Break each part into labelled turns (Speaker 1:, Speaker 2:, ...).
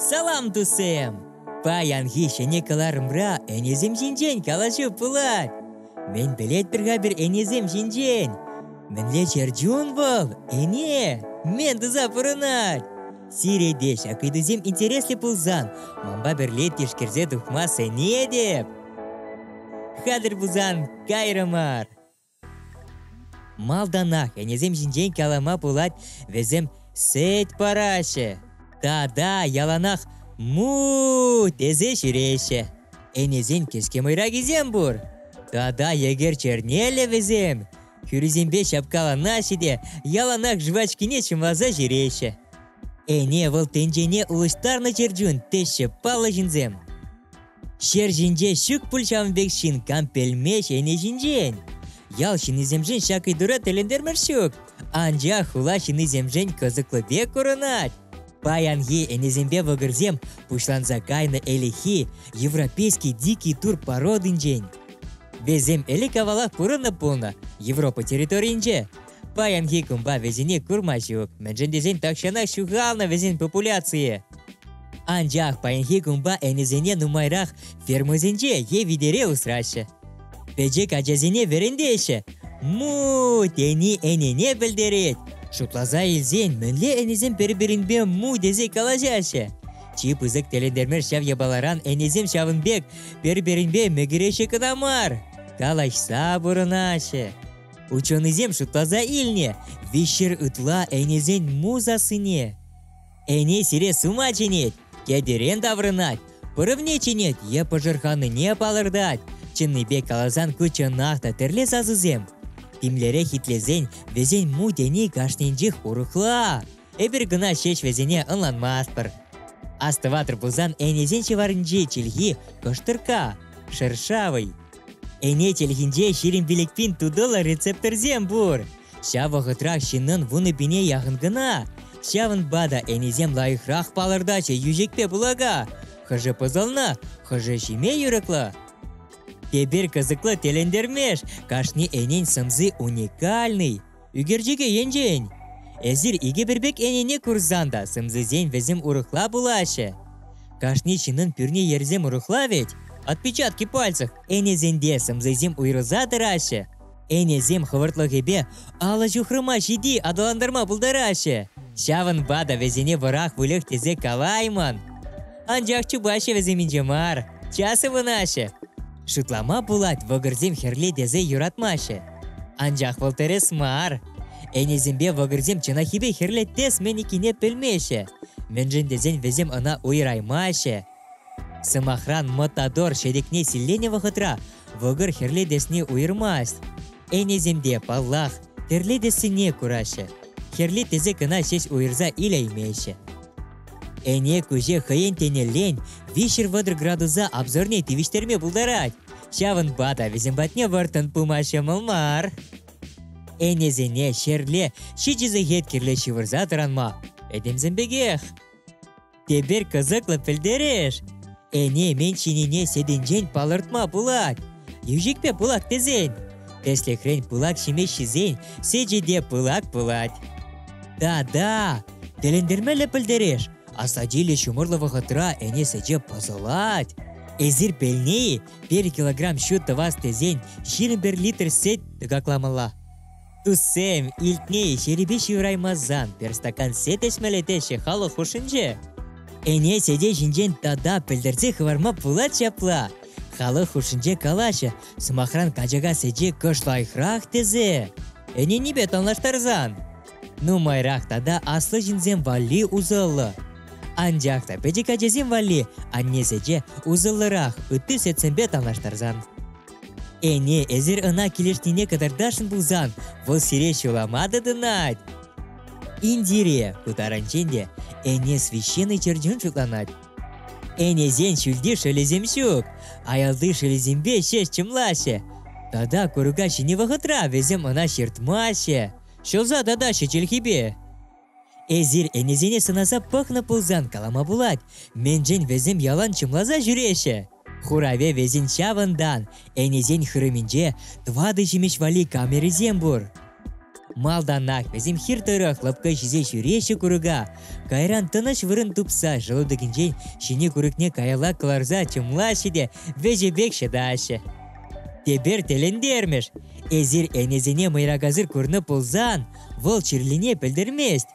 Speaker 1: Салам, тусем! Паянхи ҫӗнӗ кӑларӑмра ӗнесем ҫинчен калаҫу пулать. Мӗн пӗлетпӗр-ха пир ӗнесем ҫинчен? Мӗнле чӗрчун вӑл? Ӗне! Мӗн туса пурӑнать? Сире те ҫак ыйтусем интереслӗ пулсан, манпа пӗрле тишкерсе тухма сӗнетӗп. Хатӗр пулсан, кайрӑмӑр! Малтанах ӗнесем ҫинчен калама пулать, вӗсем сӗт параҫҫӗ тата яланах му тесе ҫӳреҫҫӗ. Ӗнесен кӗске мӑйракисем пур. Тата егер чернеллӗ вӗсем хӳрисемпе ҫапкаланаҫҫӗ те яланах жвачкине чӑмласа ҫӳреҫҫӗ. Ӗне вӑл тӗнчене улӑштарнӑ чӗрчун, теҫҫӗ паллӑ ҫынсем. Ҫер ҫинче ҫук пуль ҫавӑн пек ҫын кампельме ҫӗнӗ ҫинчен. Ял ҫыннисемшӗн ҫак ыйтура тӗлӗнтермӗш ҫук, анчах хула ҫыннисемшӗн кӑсӑклӑ пек курӑнать. Паянхи ӗнесемпе вӑкӑрсем пуҫланса кайнӑ ӗлӗкхи европейский дикий тур пародинчен. Вӗсем ӗлӗк-авалах пурӑннӑ пулнӑ Европа территорийӗнче, Паянхи кунпа вӗсене курма ҫук, мӗншӗн тесен тахҫанах ҫухалнӑ вӗсен популяцийӗ. Анчах паянхи кунпа ӗнесене нумайрах фермӑсенче е витере усраҫҫӗ. Пӗчӗк ачасене вӗрентеҫҫӗ. Му тени ӗнене пӗлтерет. Шутласа илсен мӗнле ӗнесем пӗр-пӗринпе му тесе калаҫаҫҫӗ. Чи пысӑк тӗлӗнтермеш ҫав япаларан ӗнесем ҫавӑн пек пӗр-пӗринпе мӗкӗреҫҫӗ кӑна мар, калаҫса пурӑнаҫҫӗ. Ученӑйсем шутласа илнӗ, виҫшер ытла ӗнесен мул сассине. Ӗне сире сума чӗнет, кӗтерен таврӑнать, пӑрӑвне чӗнет е пӑшӑрханнине палӑртать. Чӑннипе каласан ку чӑнах та тӗрлӗ сасӑсем. Тимлӗрех итлесен вӗсен му тени кашнинчех урӑхла. Эпир кӑна ҫеҫ вӗсене ӑнланмастпӑр. Астӑватӑр пулсан ӗнесен ҫӑварӗнчи чӗлхи кӑштӑрка, шершавый, Ӗне чӗлхинче ҫирӗм пилӗкпин тутӑллӑ рецепторсем пур. Ҫав вӑхӑтрах ҫыннӑн вунӑ-пине яхӑн кӑна. Ҫавӑнпа та ӗнесем лайӑхрах палӑртаҫҫӗ йӳҫекпе пылака. Хӑшӗ пӑсӑлнӑ, хӑшӗ ҫиме юрӑклӑ. Тепер кӑсӑклӑ тӗлӗнтермеш, кашни ӗнен сӑмси уникальный. Ӳкерчӗке енчен эсир икӗ пӗр пек ӗнене курсан та сӑмсисем вӗсем урӑхла пулаҫҫӗ. Кашни ҫыннӑн пӳрне йӗрсем урӑхла вӗт. Отпечатки пальцах ӗнесемпе сӑмсисем уйрӑлса тӑраҫҫӗ. Ӗнесем хӑвӑртлӑхӗпе алӑ ҫухрӑма ҫити аталантарма пултараҫҫӗ. Ҫавӑнпа та вӗсене вӑрах выльӑх тесе калаймӑн. Анчах чупаҫҫӗ вӗсем инҫе мар, час ывӑнаҫҫӗ. Шутлама пулать, вӑкӑрсем хӗрле тесе юратмаҫҫӗ. Анчах вӑл тӗрӗс мар. Ӗнесемпе вӑкӑрсем чӑнахипе хӗрлетес-мӗн иккине пӗлмеҫҫӗ, мӗншӗн тесен вӗсем ӑна уйӑраймаҫҫӗ. Сӑмахран, матадор ҫӗтӗкне силленӗ вӑхӑтра вӑкӑр хӗрлетесне уйӑрмасть. Ӗнесемте, паллах, тӗрлетессине кураҫҫӗ. Хӗрле тесе кӑна ҫеҫ уйӑрса илеймеҫҫӗ. Ӗне куҫе хӑйӗн тенӗллен виҫҫӗр-вӑтӑр градуса обзорне тивӗҫтерме пултарать. Ҫавӑнпа та вӗсем патне вӑрттӑн пыма ҫӑмӑл мар. Ӗнесене ҫӗрле ҫичӗ сехет кирлӗ ҫывӑрса тӑранма. Пӗтӗмсем пекех. Тепер кӑсӑклӑ пӗлтереш. Ӗне мӗн ҫинине сетӗнчен палӑртма пулать. Йӳҫекпе пылак тесен. Тӗслӗхрен пылак ҫимеҫ ҫисен сечӗ те пылак пулать. Да-да, тӗлӗнтермелле пӗлтереш. Асатиле ҫумӑрлӑ вӑхӑтра ӗне сече пӑсӑлать. Эсир пӗлни, пер килограмм ҫу тӑвас тесен ҫирӗм пер литр сет тӑкакламалла. Туссем, илтни ҫерипе ҫывӑраймасан пӗр стакан сет ӗҫмелле теҫҫӗ халӑх хушшинче. Ӗне сете ҫинчен тата пӗлтерсе хӑварма пулать ҫапла. Халӑх хушшинче калаҫӑ, сӑмахран качака сече кӑш лайӑхрах тесе. Ӗненипе танлаштарсан. Нумайрах тата аслӑ ҫынсем валли усӑллӑ. Анчах та пӗчӗк ачасем валли анне сече усӑллӑрах ытти сетсемпе танлаштарсан. Ӗне, эсир ӑна килӗшнине кӑтартасшӑн пулсан, вӑл сире ҫулама тытӑнать. Индире пытарӑнчен те ӗне священный чӗрчун шутланать. Ӗнесен ҫӳлти шӑлӗсем ҫук, аялти шӑлӗсемпе ҫеҫ чӑмлаҫҫӗ. Тата курка ҫинӗ вӑхӑтра вӗсем ӑна ҫыртмаҫҫӗ, ҫӑлса татаҫҫӗ чӗлхипе. Эсир ӗнесене сӑнаса пӑхнӑ пулсан калама пулать, мӗншӗн вӗсем ялан чӑмласа ҫӳреҫҫӗ? Хуравӗ вӗсен ҫавӑнтан. Ӗнесен хырӑмӗнче тӑватӑ ҫимӗҫ валли камерисем пур. Малтанах вӗсем хир тӑрӑх лӑпкӑ ҫисе ҫӳреҫҫӗ курӑка. Кайран тӑнӑҫ вырӑн тупса шӑлутӑкӗнчен ҫине курӑкне каялла кӑларса чӑмлаҫҫӗ те вӗҫӗ пек ҫӑтаҫҫӗ. Тепер тӗлӗнтермӗш! Эсир ӗнесене мӑйракасӑр курнӑ пулсан, Вӑл чирлине пӗлтермест.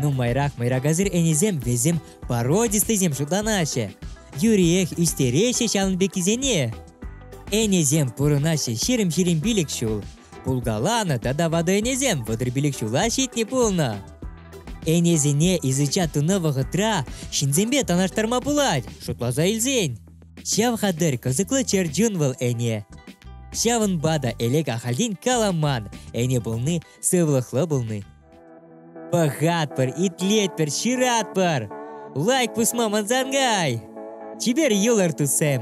Speaker 1: Нумайрах мӑйракасӑр ӗнесем вӗсем породистӑйсем шутланаҫҫӗ. Юриех ӳстереҫҫӗ ҫавӑн пеккисене. Ӗнесем пурӑнаҫҫӗ ҫирӗм-ҫирӗм пилӗк ҫул. Пулкаланӑ тата ватӑ ӗнесем вӑтӑр пилӗк ҫула ҫитнӗ пулнӑ. Ӗнесене изуча тунӑ вӑхӑтра ҫынсемпе танлаштарма пулать, шутласа илсен. Ҫав хатӗр кӑсӑклӑ чӗрчун вӑл ӗне. Ҫавӑнпа та элек ахальтен каламан, ӗне пулни сывлӑхлӑ пулни. Пӑхатпӑр, итлетпӗр, ҫыратпӑр! Лайк пусма мансангай! Чипер юлӑр, туссем!